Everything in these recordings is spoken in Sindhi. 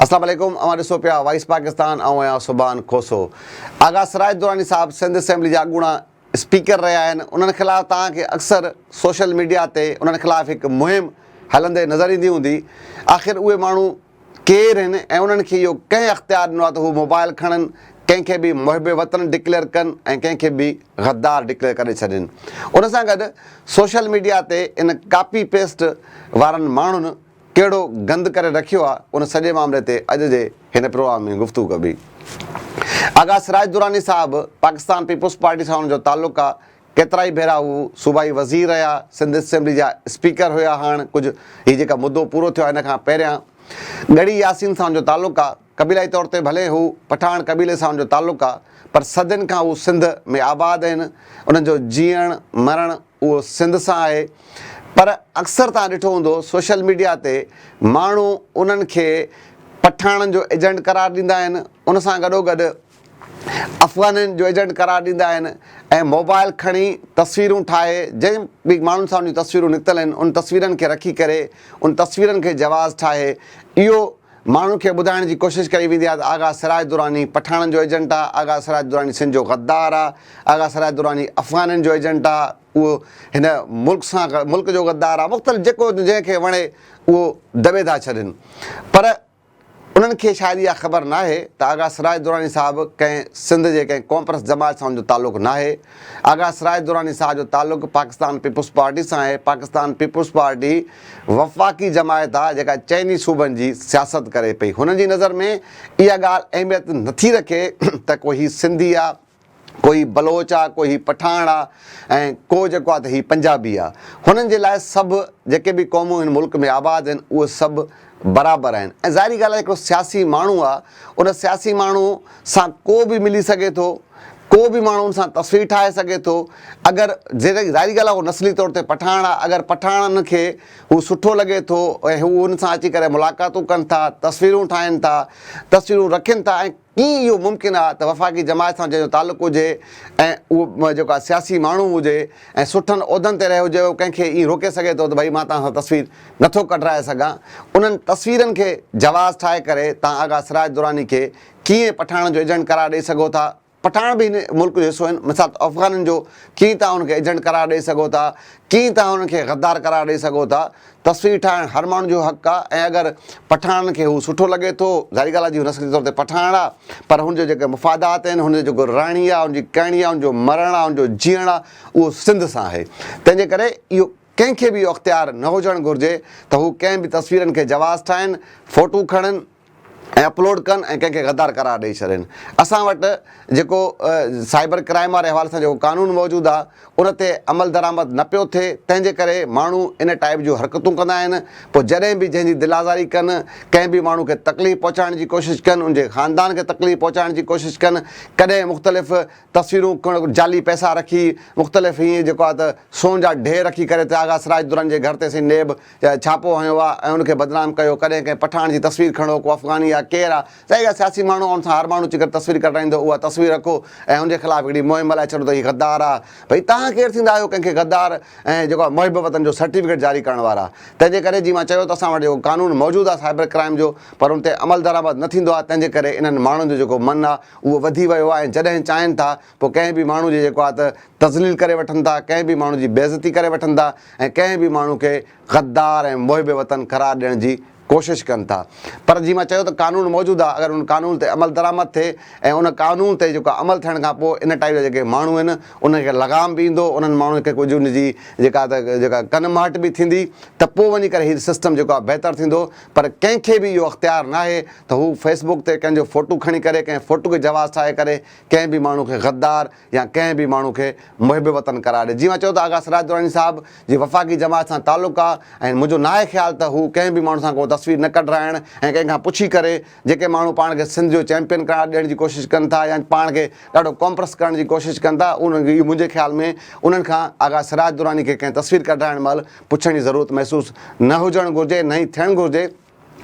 اسلام عليڪم اوهان ڏسو پيا وائس پاڪستان آئون آهيان سبحان کوسو آغا سراج دراني صاحب سنڌ اسيمبلي جا اڳوڻا اسپيڪر رهيا آهن انهن خلاف توهان کي اڪثر سوشل ميڊيا تي انهن خلاف هڪ مهم هلندي نظر ايندي هوندي آخر اهي ماڻهو ڪير هن ۽ انهن کي اهو ڪنهن اختيار ڏنو آهي ته هو موبائل کڻن، ڪنهن کي به محب وطن ڊڪليئر ڪن ۽ ڪنهن کي به غدار ڊڪليئر ڪري ڇڏين. ان سان گڏ سوشل ميڊيا تي ان ڪاپي پيسٽ وارن ماڻهن ڪهڙو گند ڪري رکيو آهي ان سڄي معاملي تي اڄ جي هن پروگرام ۾ گفتگو ڪبي. آغا سراج دراني صاحب پاڪستان پيپلز پارٽي سان انهن جو تعلق آهي، ڪيترائي ڀيرا هو صوبائي وزير رهيا، سنڌ اسيمبلي جا اسپيڪر هيا هاڻ ڪجهه هي جيڪا مدو پورو ٿيو آهي ان کان پهريان ڳڙهي ياسين سان هن جو تعلق آ، قبيلائي طور تي ڀلي هو پٺاڻ قبيلي سان هن جو تعلق آ پر صدين کان هو سنڌ ۾ آباد اهن انهن جو جيئڻ مرڻ اهو سنڌ سان آهي پر اڪثر توهان ڏٺو هوندو سوشل ميڊيا تي ماڻهو انهن کي پٺاڻن جو ايجنٽ قرار ڏيندا آهن ان سان گڏوگڏ افغانين جو ايجنٽ قرار ڏيندا آهن ۽ موبائل کڻي تصويرون ٺاهي جن به ماڻهن سان انهن جون تصويرون نڪتل آهن ان تصويرن کي رکي ڪري ان تصويرن کي جواز ٺاهي اهو ماڻهن کي ٻڌائڻ جي ڪوشش ڪئي ويندي آهي ته آغا سراج دراني پٺاڻن جو ايجنٽ آهي آغا سراج دراني سنڌ جو غدار آهي آغا سراج دراني افغانين جو ايجنٽ آهي اهو هن ملڪ سان ملڪ جو غدار آهي مختلف جيڪو جنهن کي وڻي اهو دٻي ٿا ڇڏين پر انهن کي شايد اها خبر ناهي ته آغا سراج دراني صاحب ڪنهن سنڌ جي ڪنهن ڪونپرست جماعت سان ان جو تعلق ناهي. آغا سراج دراني صاحب جو تعلق پاڪستان پيپلز پارٽي سان آهي. پاڪستان پيپلز پارٽي وفاقي جماعت آهي جيڪا چئن ئي صوبن جي سياست ڪري پئي. هنن جي نظر ۾ اها ڳالهه اهميت نٿي رکي ته ڪو هي سنڌي آهي ڪو هي بلوچ آ ڪو هي پٺاڻ آ ۽ ڪو جيڪو آ ته هي پنجابي آ هنن جي لاء سڀ جيڪي به قومون هن ملڪ ۾ آباد آهن اهي سڀ برابر آهن ۽ ظاهري ڳالهه آ هڪڙو سياسي ماڻهو آ ان سياسي ماڻهو سان ڪو به ملي سگهي ٿو ڪو به ماڻهو ان سان تصوير ٺاهي سگهي ٿو اگر ظاهري ڳالهه آ هو نسلي طور تي پٺاڻ آ اگر پٺاڻن کي هو سٺو لڳي ٿو ۽ هو ان سان اچي ڪري ملاقاتون ڪن ٿا تصويرون ٺاهن ٿا تصويرون رکين ٿا ۽ ڪيئن اهو ممڪن آ ته وفاقي جماعت سان جنهن جو تعلق هجي ۽ اهو جيڪو آ سياسي ماڻهو هجي ۽ سٺن عهدن تي رهيو هجي اهو ڪنهن کي ائين روڪي سگهي ٿو ته ڀئي مان توهان سان تصوير نه ٿو ڪڍرائي سگهان انهن تصويرن کي جواز ٺاهي ڪري توهان آغا سراج دراني کي ڪيئن پٺاڻن جو ايجنٽ قرار ڏئي سگهو ٿا پٺاڻ به هن ملڪ جو حصو آهن مثال افغانن جو ڪيئن توهان انهن کي ايجنٽ قرار ڏئي سگهو ٿا ڪيئن توهان انهن کي غدار قرار ڏئي سگهو ٿا تصوير ٺاهڻ هر ماڻهو جو حق آ ۽ اگر پٺاڻن کي هو سٺو لڳي ٿو ظاهري ڳالهه آ جي هو نسل جي طور تي پٺاڻ آ پر هن جا جيڪي مفادات آهن هن جو جيڪو رهڻي آ هن جي ڪهڻي آ هن جو مرڻ آ هن جو جيئڻ آ اهو سنڌ سان آهي تنهن جي ڪري اهو ڪنهن کي به اهو اختيار نه هجڻ گهرجي ته هو ڪنهن به تصويرن کي جواز ٺاهين فوٽو کڻن ۽ اپلوڊ ڪن ۽ ڪنهن کي غدار قرار ڏئي ڇڏين اسان وٽ جيڪو سائبر ڪرائيم واري حوالي سان جيڪو قانون موجود آ ان تي عملدرآمد نه پيو ٿئي تنهن جي ڪري ماڻهو ان ٽائيپ جون حرڪتون ڪندا آهن پوء جڏهن به جنهن جي دل آزاري ڪن ڪنهن به ماڻهو کي تڪليف پهچائڻ جي ڪوشش ڪن ان جي خاندان کي تڪليف پهچائڻ جي ڪوشش ڪن ڪڏهن مختلف تصويرون جعلي پئسا رکي مختلف هيئن جيڪو آ ته سون جا ڍير رکي ڪري ته آغا سراج دراني جي گهر تي سائين نيب ڇاپو هنيو آ ۽ ان کي بدنام ڪيو ڪڏهن ڪنهن پٺاڻ جي تصوير کڻو ڪو افغاني آ ڪير آ ظاهر آ سياسي ماڻهو آ ان سان هر ماڻهو اچي ڪري تصوير ڪڍرائيندو اها تصوير رکو ۽ ان جي خلاف هڪڙي مهم هلائي ڇڏو ته هي غدار آ ڀئي تهان ڪير ٿيندا آهيو ڪنهن کي غدار ۽ جيڪو آ محب وطن جو سرٽيفڪيٽ جاري ڪرڻ وارا تنهن جي ڪري جي مان چيو ته اسان وٽ جيڪو قانون موجود آ سائبر ڪرائم جو پر ان تي عملدرآمد نه ٿيندو آ تنهن جي ڪري انهن ماڻهن جو جيڪو من آ اهو وڌي ويو آ ۽ جڏهن چاهين ٿا پوء ڪنهن به ماڻهو جي جيڪو آهي ته تذليل ڪري وٺن ٿا، ڪنهن به ماڻهو جي بيعزتي ڪري وٺن ٿا ۽ ڪنهن به ماڻهو کي غدار ۽ محب وطن قرار ڏيڻ جي ڪوشش ڪن ٿا. پر جيئن مان چيو ته قانون موجود آهي، اگر ان قانون تي عملدرآمد ٿئي ۽ ان قانون تي جيڪو آهي عمل ٿيڻ کان پوء ان ٽائيپ جا جيڪي ماڻهو آهن انهن کي لغام به ايندو، انهن ماڻهن کي ڪجهه ان جي جيڪا آهي ته جيڪا ڪن مهٽ به ٿيندي ته پوء وڃي ڪري هي سسٽم جيڪو آهي بهتر ٿيندو. پر ڪنهن کي به اهو اختيار ناهي ته هو فيسبوڪ تي ڪنهن جو فوٽو کڻي ڪري ڪنهن فوٽو کي جواز ٺاهي ڪري ڪنهن به ماڻهو کي غدار يا ڪنهن به ماڻهو کي محب وطن قرار ڏي جيئن اوهان چئو ٿا آغا سراج دراني صاحب جي وفاقي جماعت سان تعلق آ ۽ منهنجو ناهي خيال ته هو ڪنهن به ماڻهو سان ڪو تصوير نه ڪڍرائڻ ۽ ڪنهن کان پڇي ڪري جيڪي ماڻهو پاڻ کي سنڌ جو چيمپين قرار ڏيڻ جي ڪوشش ڪن ٿا يا پاڻ کي ڏاڍو ڪامپرس ڪرڻ جي ڪوشش ڪن ٿا انهن کي منهنجي خيال ۾ انهن کان آغا سراج دراني کي ڪنهن تصوير ڪڍرائڻ مهل پڇڻ جي ضرورت محسوس نه هجڻ گهرجي نه ئي ٿيڻ گهرجي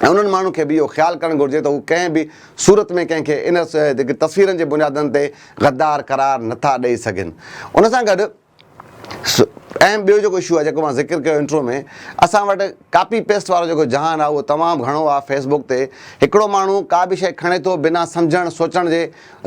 ۽ انهن ماڻهن کي به اهو خيال ڪرڻ گهرجي ته هو ڪنهن به صورت ۾ ڪنهن کي ان تصويرن جي بنيادن تي غدار قرار نه ٿا ڏئي سگهن ان سان گڏ اهم ٻيو جيڪو اشو آهي جيڪو مان ذڪر ڪيو انٽرو ۾ اسان وٽ ڪاپي پيسٽ وارو جيڪو جهان آهي اهو تمام گهڻو آهي فيس بوڪ تي هڪڙو ماڻهو ڪا به شيء کڻي ٿو بنا سمجهڻ سوچڻ جي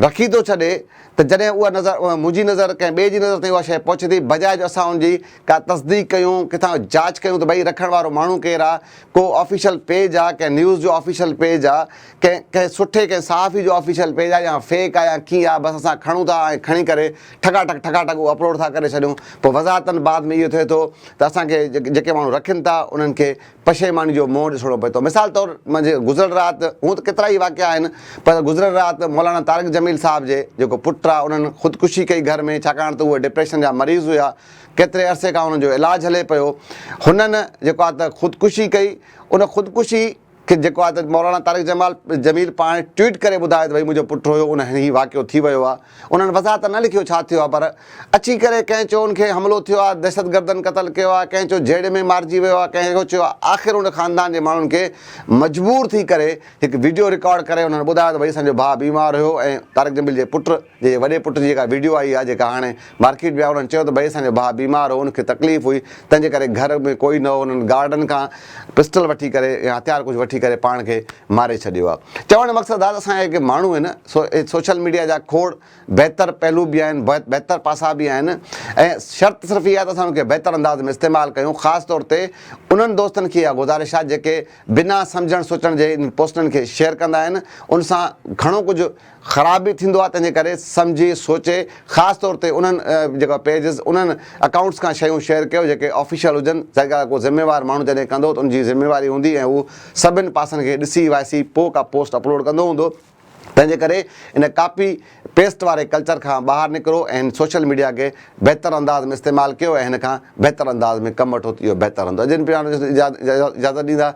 رکي ٿو ڇڏي ته جڏهن اها نظر منهنجي نظر ڪنهن ٻئي جي نظر تائين اها شيء پهچي ٿي بجاء جو اسان ان جي ڪا تصديق ڪيون ڪٿان جاچ ڪيون ته ڀئي رکڻ وارو ماڻهو ڪير آهي ڪو آفيشل پيج آ ڪنهن نيوز جو آفيشل پيج آ ڪنهن ڪنهن سٺي ڪنهن صحافي جو آفيشل پيج آ يا فيڪ آ يا ڪيئن آ بس اسان کڻون ٿا ۽ کڻي ڪري ٺڪا ٺڪ ٺڪا ٺڪ اهو اپلوڊ ٿا ڪري ڇڏيون پوء وضاحتن بعد ۾ اهو ٿئي ٿو ته اسان کي جيڪي ماڻهو رکين ٿا انهن کي پشيماني جو منهن ڏسڻو پئي ٿو مثال طور منهنجي گذريل رات هون ته ڪيترا ئي واقعا آهن پر گذريل رات مولانا طارق جميل صاحب جي جيڪو پٽ آ انهن خودڪشي ڪئي گهر ۾ ڇاڪاڻ ته اهي ڊپريشن جا مريض هيا ڪيتري عرصي کان هن جو علاج هلي پيو. هنن جيڪو آهي ته خودڪشي ڪئي. ان خودڪشي کي جيڪو آهي ته مولانا طارق جمال جميل پاڻ ٽوئيٽ ڪري ٻڌايو ته ڀئي منهنجو پٽ هيو ان هن هي واقعو ٿي ويو آهي. انهن وضاحت ته نه لکيو ڇا ٿيو آهي پر اچي ڪري ڪنهن چيو ان کي حملو ٿيو آهي دهشتگردن قتل ڪيو آهي ڪنهن چيو جهيڙي ۾ مارجي ويو آهي ڪنهن ڪو چيو آهي آخر ان خاندان جي ماڻهن کي مجبور ٿي ڪري هڪ وڊيو رڪارڊ ڪري انهن ٻڌايو ته ڀئي اسان جو ڀاء بيمار هيو ۽ طارق جميل جي پٽ جي وڏي پٽ جي جيڪا وڊيو آئي آ جيڪا هاڻي مارڪيٽ ۾ آ انهن چيو ته ڀئي اسان جو ڀاء بيمار هو ان کي تڪليف هئي تنهن جي ڪري گهر ۾ ڪوئي نه هو انهن گارڊن کان پسٽل وٺي ڪري يا هٿيار ڪجهه وٺي ڪري پاڻ کي ماري ڇڏيو آ چوڻ جو مقصد آ ته اسان جا جيڪي ماڻهو آهن سو سوشل ميڊيا جا کوڙ بهتر پهلو به آهن بهتر پاسا به آهن ۽ شرط صرف اها آ ته اسان ان کي بهتر انداز ۾ استعمال ڪيون خاص طور تي انهن دوستن کي اها گذارش آ جيڪي بنا سمجهڻ سوچڻ جي انهن پوسٽن کي شيئر ڪندا آهن ان سان گهڻو ڪجهه خراب به ٿيندو آهي تنهنجي ڪري سمجهي سوچي خاص طور تي انهن جيڪا پيجز انهن اڪائونٽس کان شيون شيئر ڪيو جيڪي آفيشل هجن جيڪا ڪو ذميوار ماڻهو جڏهن ڪندو ته ان جي ذميواري هوندي ۽ هو سڀن پاسن کي ڏسي وائسي پو ڪا پوسٽ اپلوڊ ڪندو هوندو تنهنجي ڪري ان ڪاپي پيسٽ واري ڪلچر کان ٻاهر نڪرو ۽ هن سوشل ميڊيا کي بهتر انداز ۾ استعمال ڪيو ۽ هن کان بهتر انداز ۾ ڪم وٺو ته اهو بهتر هوندو اجين پراڻو اجازت ڏيندا